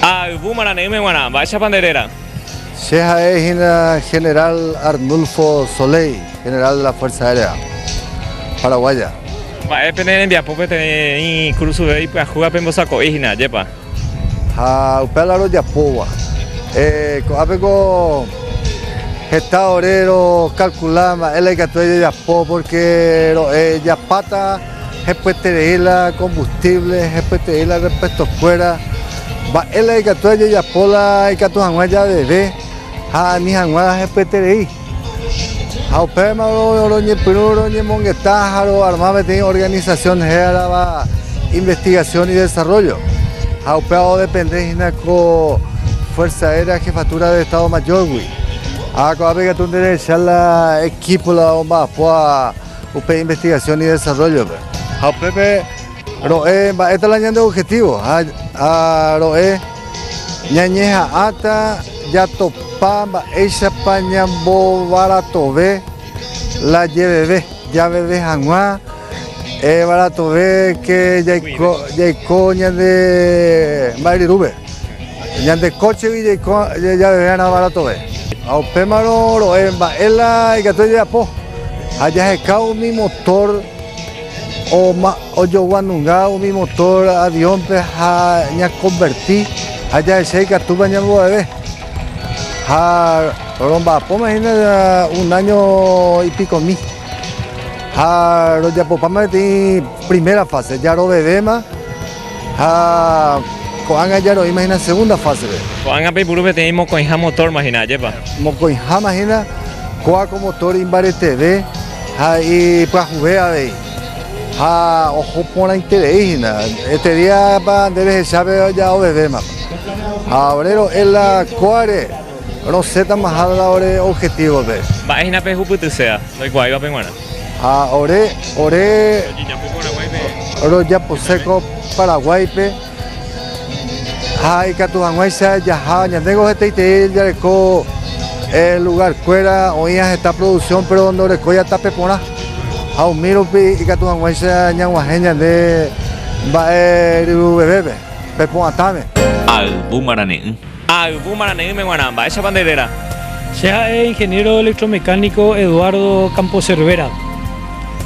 Ha yvu marane'ỹme g̃uarã, mba'éichapa nde réra? Che ha'e hína General Arnulfo Soleil, General de la Fuerza Aérea Paraguaya. Mba'e pene rembiapo peteĩ Cruz Zuve ipyahúva pembosako'i hína, ajépa? Ha upéva la rojapóva, ko'ápeko heta ore rokalkula mba'e la ikatu jajapo, pórke ro'e japáta hepyeterei la kombustívle, hepyeterei la repuestokuéra, mba'e la ikatu jajapo la ikatu hag̃ua javeve ha ani hag̃ua hepyeterei. Ha upémarõ roñepyrũ roñemongeta ha roarma peteĩ organisasión hérava Investigación y Desarrollo, ha upéva odepende hína ko Fuerza Aérea Jefatura de Estado Mayor-gui. Ha ko'ápe katu nde rehecha la equipo la omba'apua upe Investigación y Desarrollo-pe. Ha upépe ro'e mba'éta la ñande objetivo ha ro'e Ñañeha'ãta jatopa mba'éichapa ñambovaratove la jeveve, javeve hag̃ua varatove ke jaiko ñande mba'e ryrúpe, ñande kóchegui jaiko javeve hag̃ua varatove. Ha upémarõ ro'e mba'e la ikatu jajapo ha jaheka umi motór. Ojogua nunga umi motor avión-pe ha ñakonverti ha jahecha ikatúpa ñamboveve. Ha romba'apóma hína un áño ipikomi. Ha rojapopáma peteĩ primera fáse, jarovevéma ha ko'ág̃a jaroĩma hína segunda fásepe. Ko'ág̃a peipuru peteĩ mokõiha motórma hína, ajépa? Mokõiháma hína, kóa ko motor imbareteve ha ipyahuve avei. Ha oho porãiterei hína, este díapa nde rehechápe oja ovevéma. Ha ore ro'e la kóare, rosẽtamaha la ore objetívope. Mba'e hína pehupytyséva ndoikuaáivape g̃uarã. Ha ore, ore rojaposéko Paraguáipe. Ha ikatu hag̃uáicha jaha ñandéngo heteitei jareko lugarkuéra oĩva heta produksión péro ndorekóiva tape porã. Ha umi rupi ikatu hag̃uáicha ñag̃uahẽ ñande mba'e ryruvevépe, pe pu'atãme. Ayvu marane'ỹ. Ha ayvu marane'ỹme g̃uarã, mba'éichapa nde réra? Che ha'e ingeniero electromecánico Eduardo Campo Cervera.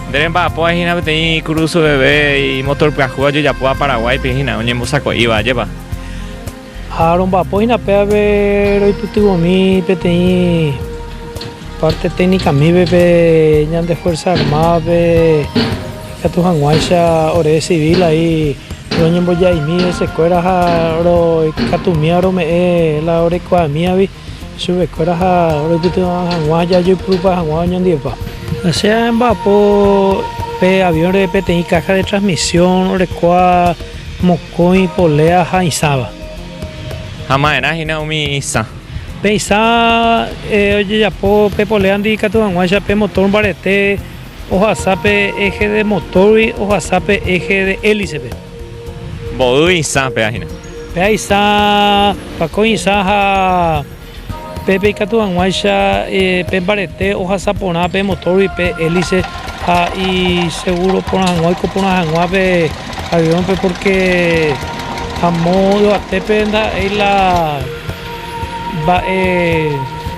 Nde remba'apo ha'e hína peteĩ kurusu veve imotor pyahu ojejapóva Paraguáipe hína, oñembosako'íva, ajépa? Ha romba'apo hína pévape roipytyvõmi peteĩ parte técnica mive pe ñande Fuerza Armádape. Ikatu hag̃uáicha oreresivi la y roñembojaimi hesekuéra ha roikatumíva rome'ẽ la orekuaamívavi chupekuéra ha roipytyvõ hag̃ua ha jajoipurupa hag̃ua oñondivepa. La che amba'apo pe avión reve peteĩ caja de transmisión orekóva mokõi polea ha isãva. Ha ma'erã hína umi isã. Pe isã ojejapo pe poléandi ikatu hag̃uáicha pe motor mbarete. Ohasa pe eje de motórgui ohasa pe eje de hélicepe. Mboýi isã pea hína. Pea isã, pakõi isã ha pépe ikatu hag̃uáicha pe mbarete ohasa porã pe motórgui pe hélice ha isegúro porã hag̃ua oiko porã hag̃ua pe aviónpe pórke amo yvatépe ndaha'éi la mba'e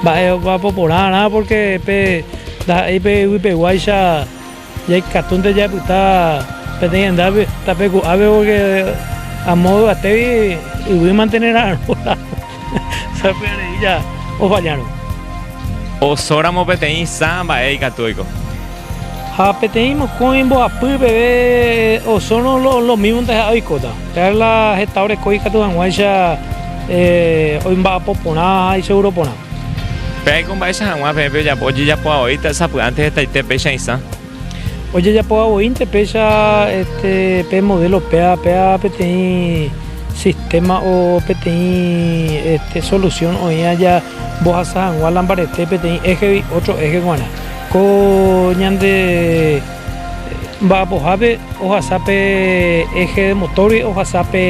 mba'e ojapo porãrã pórke pe Ndaha'éi pe yvypeguáicha jaikatúnte japyta peteĩ hendápe, tapeku'ápe pórke amo yvatégui yvy mantene ra'arõ ramo, py'areícha ofallárõ. Osóramo peteĩ sa mba'e ikatu oiko. Ha peteĩ mokõi mbohapy peve osórõ lomívonte ha'e oikóta. Perla heta orekói ikatu hag̃uáicha oimba'apo porã ha iseguro porã. Pe'aiko mba'éicha hag̃ua peẽ pejapo ojejapo avoíta sapy'ánte hetaite péicha isã. Ojejapo avoínte péicha pe modelo péva, péva peteĩ sistema o peteĩ solución oĩ aja mbohasa hag̃ua la mbarete peteĩ éjegui ótro éje g̃uarã. Ko ñande mba'apohápe ohasa pe éje de motórgui, ohasa pe...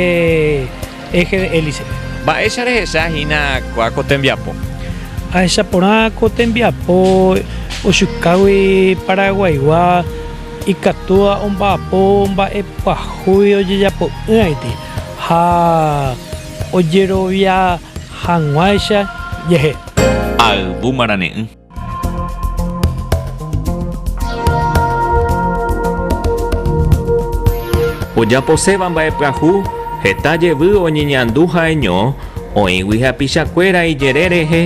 eje de hélicepe. Mba'éicha rehecha hína kua ko tembiapo? Ahecha porã ko tembiapo ojukágui Paraguaygua ikatúva omba'apo mba'e pyahuy ojejapo'ỹaiti ha ojerovia hag̃uáicha jehe. Ayvu marane'ỹ. Ojaposéva mba'epyahu heta jevy oñeñandu ha'eño oĩgui hapichakuéra ijerére rehe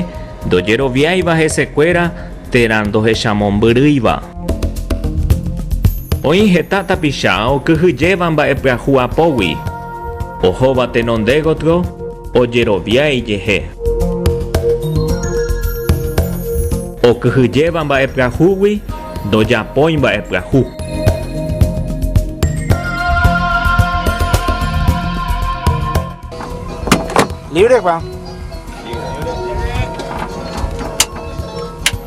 ndojeroviáiva hesekuéra térã ndohechamombyrýiva. Oĩ heta tapicha okyhyjéva mba'epyahu apógui. Ohóva tenonde gotyo ojerovia ijehe. Okyhyjéva mba'epyahúgui ndojapói mba'epyahu. Libre Juan.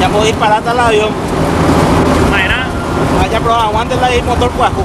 Ñapo disparata la avión. Maerã. Aja proba aguante la motor pyahu.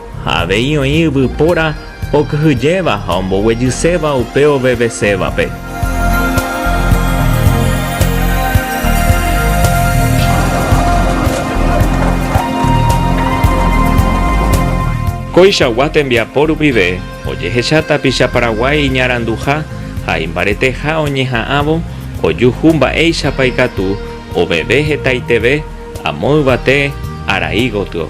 Ha avei oĩ yvypóra okyhyjéva ha omboguejyséva upe ovevesévape. Koichagua tembiapo rupive ojehecha tapicha Paraguái iñaranduha ha imbareteha oñeha'ãvo ojuhu mba'éichapa ikatu oveve hetaiteve Amo yvate arai gotyo.